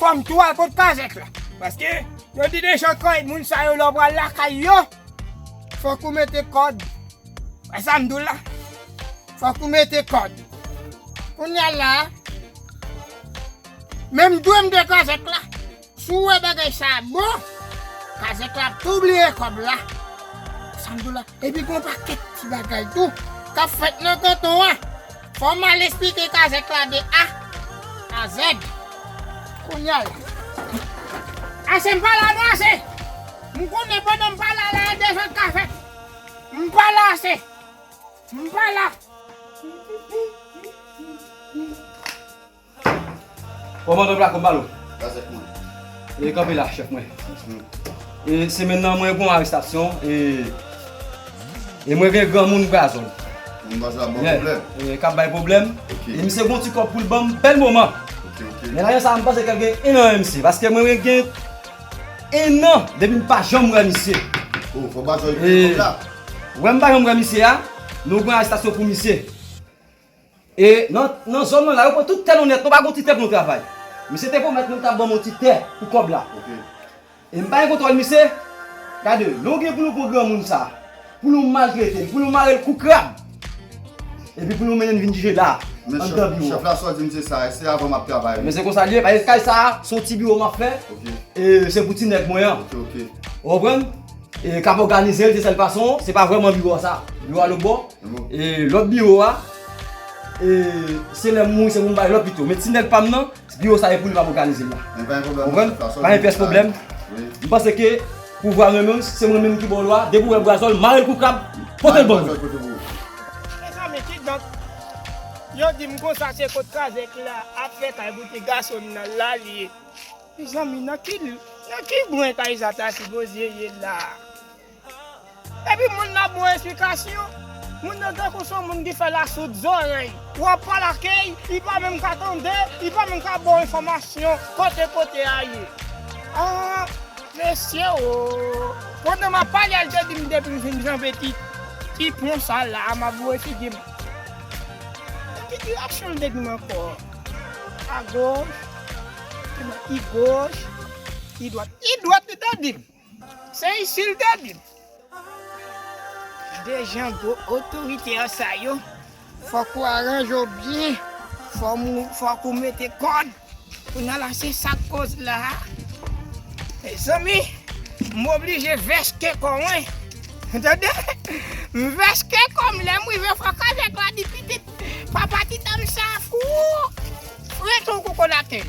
Fòm tou al kot kazèk la. Paske yo di dejan kay moun sa yo lè w pral lakay yo, fòk ou mete kòd. Wè sa m di w la? Fòk ou mete kòd. Kounye a la, menm dwe m dwe kazèk la, si w wè bagay sa a bon, kazèk la ap tou bliye kòb la. Wè sa m di w la? Epi gen yon pakèt ti bagay tou k ap fèt nan kanton an. Fò m al esplike kazèk la de A a Z kounye a la. Ase m pale a nou ase! M konnen pandan m pale a la a dezòd ka fèt. M pale a ase! M pale a! Koman pèp la kòm balo? Kazèk mwen. E kanpe la chèf mwen. E semèn nan mwen gon arestasyon e e mwen gen granmoun brazon. Moun brazon ap bay pwoblèm? Yè, kap bay pwoblèm. Ok. E misye gon ti kòb poul banm bèl moman. Ok, ok. Men lajan sa a mpanse ke l gen 1 an MZ paske mwen menm gen 1 an depi m pa janm wè misye. Oh, fò brazon yo peye kòb la. E wèm pa janm wè misye a, nou pran arestasyon pou misye. E nan zòn mwen la, yo pran tout tè nou nèt, nou pa gen yon ti tè pou nou travay. Misye te pwomèt mwen li t ap ban mwen yon ti tè pou kòb la. E m pa gen kontwòl misye. Gade, lè w gen pou nou pran granmoun sa a, pou nou maltrete l, pou nou mare l kou krab, epi pou nou mennen l vin jije la a, anndan biwo a. Chèf la, sa w di m se sa, e se avan m ap travay wi. Men se konsa l ye, paske kay sa a, se yon ti biwo m ap fè, e se pou ti nèg mwen an. Ou konprann? E k ap òganize l de sèl fason, se pa vrèman biwo a sa. Biwo a lòtbò. E lòt biwo a, e se lè m mouri se pou m bay lòt pito. Men ti nèg pa m nan, biwo sa e pou li pa m òganize l la. Men pa gen pwoblèm. Konprann? Pa gen pyès pwoblèm. M panse ke pouvwa mwen menm, se mwen menm ki ba w lwa, depi w wè brazòl, mare l kou krab, pote l ban mwen. Mezanmi, kidonk, yo di m konsa se kot kazèk k la ap fè kay pou ti gason l nan la l ye. Mezanmi, nan ki bwen kay sa ta sipoze ye la a? Epi moun nan ap bon esplikasyon. Moun nan tankou son moun ki fè la soud zòrèy. Ou ap pale ak e, li pa menm ka tande, li pa menm ka ba w enfòmasyon kote kote a ye. Aah! Mesye oo! Pandan m ap pale a, l te di m depi m fin janbe ti, ti pon sa a la a, m ap voye figi m. Nan ki direksyon l te di m ankò? Agoch, li te di m, idwòt, idwòt li te di m. Se isil te dim. Dejan gwo otorite an sa yo fok ou aranje w byen fok ou mete kod pou nan la se sak koz la mezanmi m oblije vèske kò mwen ou tande m vèske kò m lèm rive fok avek la di pitit papa ti dam sa fou rete w koko laten.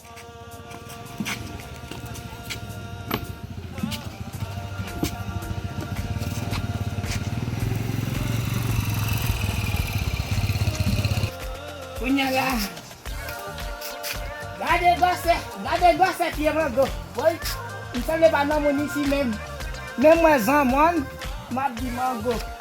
Kounya la Gade gwosè Gade gwosè pye mango Woy M sanble pa nan moun isi menm Menm mwen zanmòn M ap di mango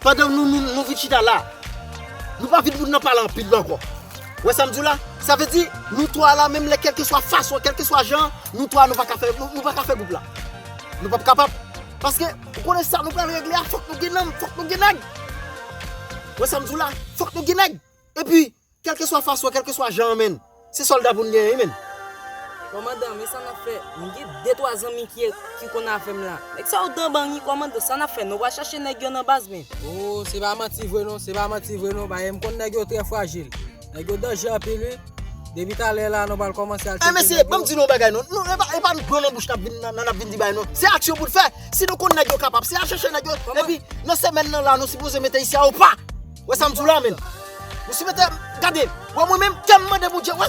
Pandan nou vin chita la, nou pa vin moun nan pale anpil lan ankò. Ou wè sa m di w la? Sa vle di, nou twa la menm lè kèlkeswa fason, kèlkeswa jan, nou twa nou pa ka fè, nou pa ka fè gwoup la. Nou p ap kapab. Paske, ou konnen sa nou pral regle a, fòk nou gen nanm, fòk nou gen nèg. Ou wè sa m di w la? Fòk nou gen nèg. Epi. Kelkeswa fason kelkeswa jan an menn se solda poun genyen wi menn. Kòmandan men sa nap fè mwen gen de twa zanmi ki ki konn avèm la nèg sa yo danban wi kòmandan sa nap fè nou pral chache nèg yo nan baz men. Ooh se pa manti vre non se pa manti vre non bae mkonn nèg yo trè frajil nèg yo danje anpil wi depi talè la nou pral kòmanse al tcheke nèg yo. Mesye banm di nou yon bagay non nou epa dlo nan bouch nap vin nap vin di bae non se aksyon poun fè si nou konn nèg yo kapab se al chèche nèg yo epi nan semèn nan la nou sipoze mete isi a opa. Wè sa m di w la menn. Mesye mete, gade, wè mwen menm kè m mande Bondye wè.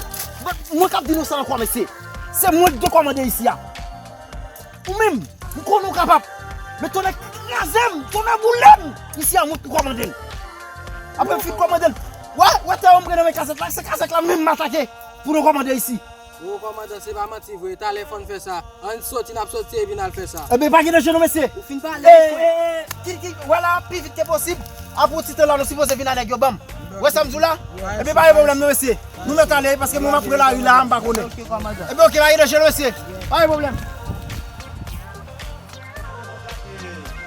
Mwen k ap di nou sa ankò mesye. Se mwen k gen kòmande isi a. Ou menm, m konnen w kapab. Men tonnè kraze m, tonnè boule m. Isi a mwen k pou kòmande l. Apre m fin kòmande l, wè, wè tè yo m pran nan men kazèk la, se kazèk la menm m atake pou nou kòmande isi. Gwo kòmandan se pa manti vre talè fòn fè sa ann soti nap soti epi nal fè sa. Ebyen pa gen danje non mesye. Ou fin pale wi frè. Eee kit kit wè la pi vit ke posib aprè yon ti tan la nou sipoze vin a nèg yo banm wè sam diw la ebyen pa gen pwoblèm non mesye nou mèt ale paske mwen map pran lari la mpa konnen ebyen ok pa gen danje non mesye pa gen pwoblèm.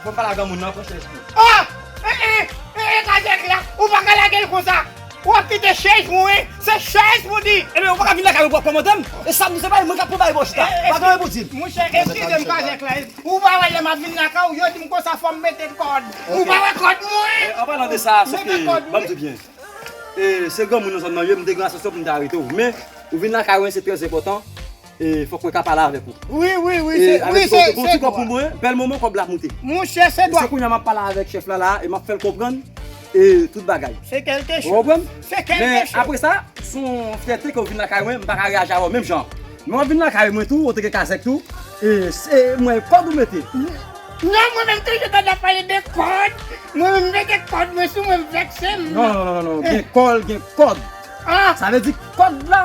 Fòm pale ak granmoun nan pran chèz tou. Ohh ee ee ee kazèk la ou paka lagel konsa. Wap kite chèz mwen, se chèz mwen di. Ebyen ou paka vin lakay mwen pou wap kòmandem, e sam di se bay mwen kap pou bay bon chita, pa gen anyen pou dim. Monchè eskizem pa gen klè, ou pa wè lèm ap vin lakay ou yo dim konsa fòm mete kòd, ou pa wè kòd mwen, an palan de sa se ke banm di byen, se granmoun nan zòn nan ye mte gen asosyasyon poum ta aretew men ou vin lakay mwen se trè enpòtan. E fok mwen ka pale avek ou. Wi wi wi se wi se se. Bon ti kob pou mwen bel moman kob la ap moute. Monche se dwa. Se kounya map pale avek chef la la e map fel konprann e tout bagay. Se kelke cho. Ou konprann? Se kelke cho. Men apre sa son fyète ke ou vin lakay mwen m paka reyaji avèw menm jan. Men wap vin lakay mwen tou ou te gen kazèk tou e se mwen kod ou mete. Non mwen menm toujou tande ap pale de kod. Mwen menm mete kod mwen sou mwen vekse m. Non non non gen kol gen kod. Sa vle di kod la.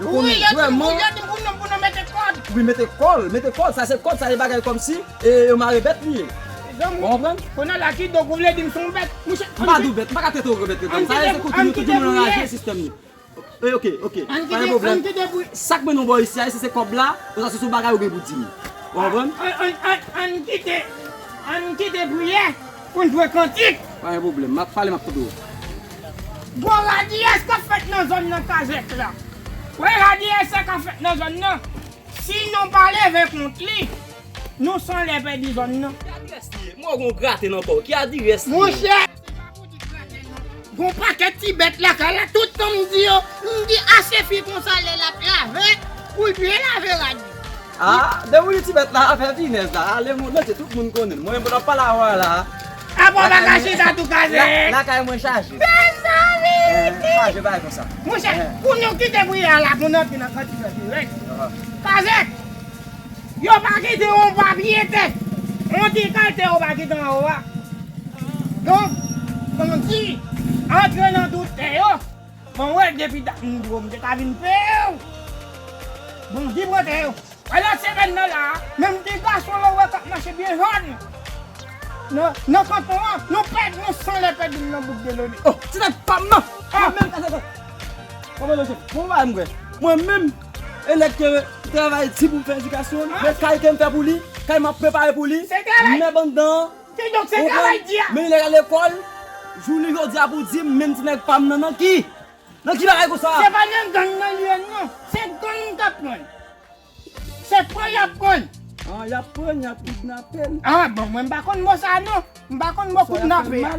Ou konnen vreman. Wi mete kòl, mete kòl, sa se kòd, sa se bagay kòmsi e yo mare bèt li ye. Ou konprann? Konnen la ki donk ou vle di m son bèt? M pa di w bèt, m pa ka trete w bèt etan sa se kote nou tout moun anraje sistèm nou. E ok, ok, pa gen pwoblèm. Sa k mennen w bò isi a isi se kòb la oswa se sou bagay ou gen pou di m? Ou konprann? Ann kite, ann kite priyè pou n jwe kantik. Pa gen pwoblèm, m ap pale m ap tande w. Gwo radiyès kap fèt nan zòn nan kazèk la. Wè radiyès sa ka fèt nan zòn nan si nou pa leve kont li nou san lè pèdi zòn nan. Ki adrès li ye? M wè w gen yon grate nan kò w. Ki adirès li ye? Monchè, se pa pou di grate non. Gen yon pakèt ti bèt lakay la, tout tan m di yo, m di a se fi konsa lè l ap lave, pou l byen lave rad li. Ah de wili ti bèt la afè finèz la ale moun mete tout moun konnen mwen mwen ap pale avè w la a bon bagay chita tou kaze lakay mwen chaje mezanmi ki chaje bay konsa monchè pou nou kite pou yè a la pou nou antre nan kòd fè dirèk kaze yo pa kite yon papye tè yon ti kay tè yo pa kite anwo a donk komanse antre nan tout tè yo. Mwen wè depi dat m bro m te ka vin few bon vibrante yo. Ala sirèn nan la a. Menm ti gason lan w wè kap mache byen hard nan kanton an nou pèdi nou san lè pèdi m nan bouk Delaunay. Oh ti nèg pam nan mwen menm atch atch atch koman nou se bon bagay m wè mwen menm e nèg ke travay di pou m fè edikasyon l e kay ke m fè pou li kay map prepare pou li mèb anndan an. Kidonk se travay di a. Men nèg la lekòl jounen jodi a pou di m menm ti nèg pa m nan nan ki? Nan ki bagay konsa? Se pa nan gang nan li ye non. Se gang k ap pran l. Se pran y ap pran l. An y ap pran l y ap kidnape l. An bon mwen m pa konn mo sa non. M pa konn mo kidnape a.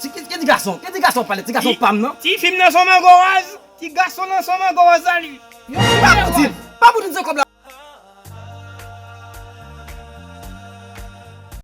Ti ki ti gason? Ki ti gason wap pale? Ti gason pam nan? Ti fim nan son mango raz. Ti gason nan son mango raz la li. Pa pou dil. Pa pou dil se kob la.